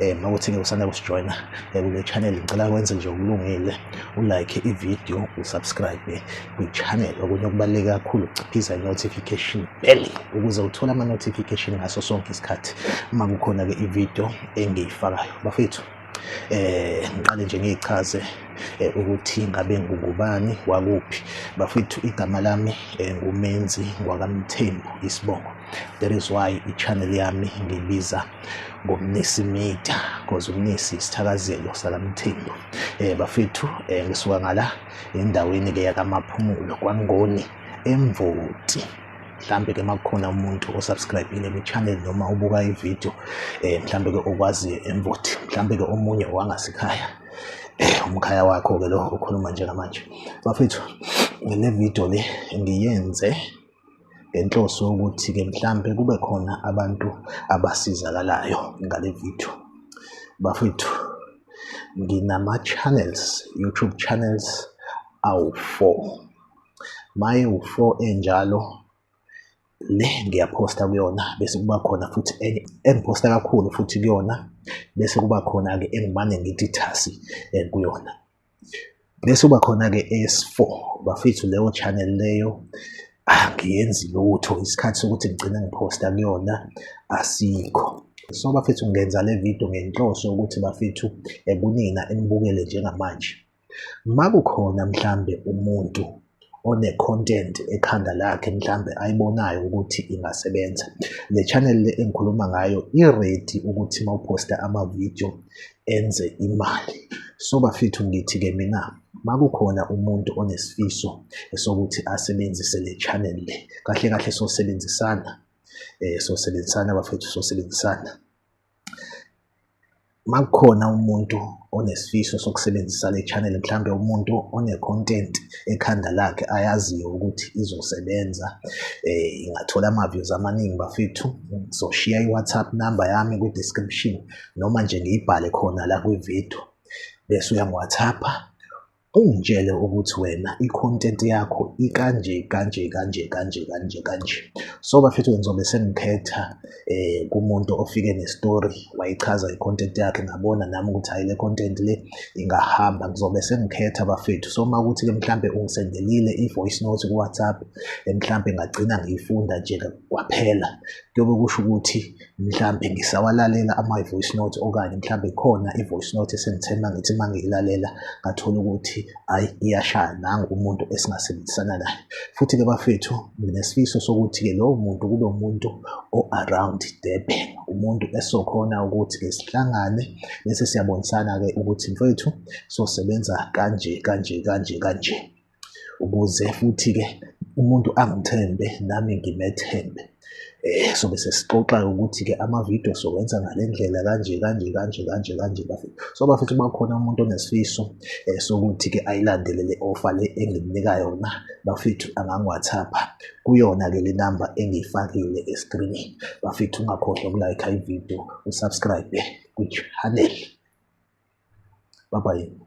um makuthi-ke usanda kusijoyina eh, kule channel ngicela kwenze nje okulungile ulike ividiyo usubscribe kwi-channel okunye okubaluleke kakhulu ukuciphiza i-notification bell ukuze uthole ama-notification ngaso sonke isikhathi uma kukhona-ke ividiyo engiyifakayo bafethu eh ngiqale nje ngichaze eh, ukuthi ngabe ngubani wakuphi bafethu igama lami eh, ngumenzi ngwakamthembu isibongo that is why i-channel yami ngibiza ngomnisi media because umnisi isithakazelo salamthembu eh bafethu eh ngisuka ngala endaweni ke yakamaphumulo kwangoni emvoti mhlambe ke makukhona umuntu osubscribile kwi channel noma ubuka i video eh mhlambe ke okwazi emvoti mhlambe ke omunye owangasikhaya eh, umkhaya wakho ke lo ukhuluma njengamanje bafethu le video le ngiyenze ngenhloso yokuthi-ke mhlampe kube khona abantu abasizakalayo ngale video bafethu nginama-channels youtube channels awu-four maye wu-four enjalo le ngiyaphosta kuyona bese kuba khona futhi enye engiphosta kakhulu futhi kuyona bese kuba khona-ke engimane ngithi thasi eh, kuyona Bese uba khona-ke eyesi-four bafethu leyo channel leyo angiyenzi ah, lutho isikhathi sokuthi ngigcine ngiphosta kuyona asikho so bafethu ngenza le video ngenhloso ukuthi bafethu ekunina enibukele njengamanje makukhona mhlambe umuntu one-content ekhanda lakhe mhlambe ayibonayo ukuthi ingasebenza. Le channel le engikhuluma ngayo i-ready ukuthi uma uphosta ama-video enze imali. So bafethu ngithi-ke mina uma kukhona umuntu onesifiso sokuthi asebenzise le channel le, kahle kahle sosebenzisana um sosebenzisana bafethu sosebenzisana. Uma kukhona umuntu onesifiso sokusebenzisa le channel mhlawumbe umuntu one-content ekhanda lakhe ayaziyo ukuthi izosebenza ingathola ama-views amaningi bafethu ngizoshiya i-whatsapp number yami kwi-description noma nje ngiyibhale khona la kwi-video bese uyangi-whatsapp-a Ungitshele ukuthi wena i-content yakho ikanje kanje kanje kanje kanje kanje. So bafethu ngizobe sengikhetha eh kumuntu ofike ne-story wayichaza i-content yakhe ngabona nami ukuthi hayi le content le ingahamba. Ngizobe sengikhetha bafethu. So uma kuthi-ke mhlampe ungisendelile i-voice note ku-WhatsApp eh, mhlampe ngagcina ngiyifunda nje kwaphela. Kuyobe kusho ukuthi mhlampe ngisawalalela ama-voice note okanye mhlampe khona i-voice note esengithemba ngithi uma ngiyilalela ngathola ukuthi hhayi iyashaya nangu umuntu esingasebenzisana naye. Futhi-ke bafethu nginesifiso sokuthi-ke lowo muntu kube umuntu o-around Durban, umuntu esokhona ukuthi-ke sihlangane bese siyabonisana-ke ukuthi mfwethu sosebenza kanje, kanje, kanje, kanje. ukuze futhi-ke umuntu angithembe nami ngimethembe. Eh, sobe sesixoxa-ke ukuthi-ke ama-video sowenza ngale ndlela kanje kanje kanje kanje kanje bafethu. So bafethu uma kukhona umuntu onesifiso um sokuthi-ke ayilandele le ofa le engimnika yona bafethu angangiwathapha kuyona-ke le namba engiyifakile eskrinini. Bafethu ungakhohlwa ukulayikha ividiyo, usubscribe-e kwichannel. Bye bye.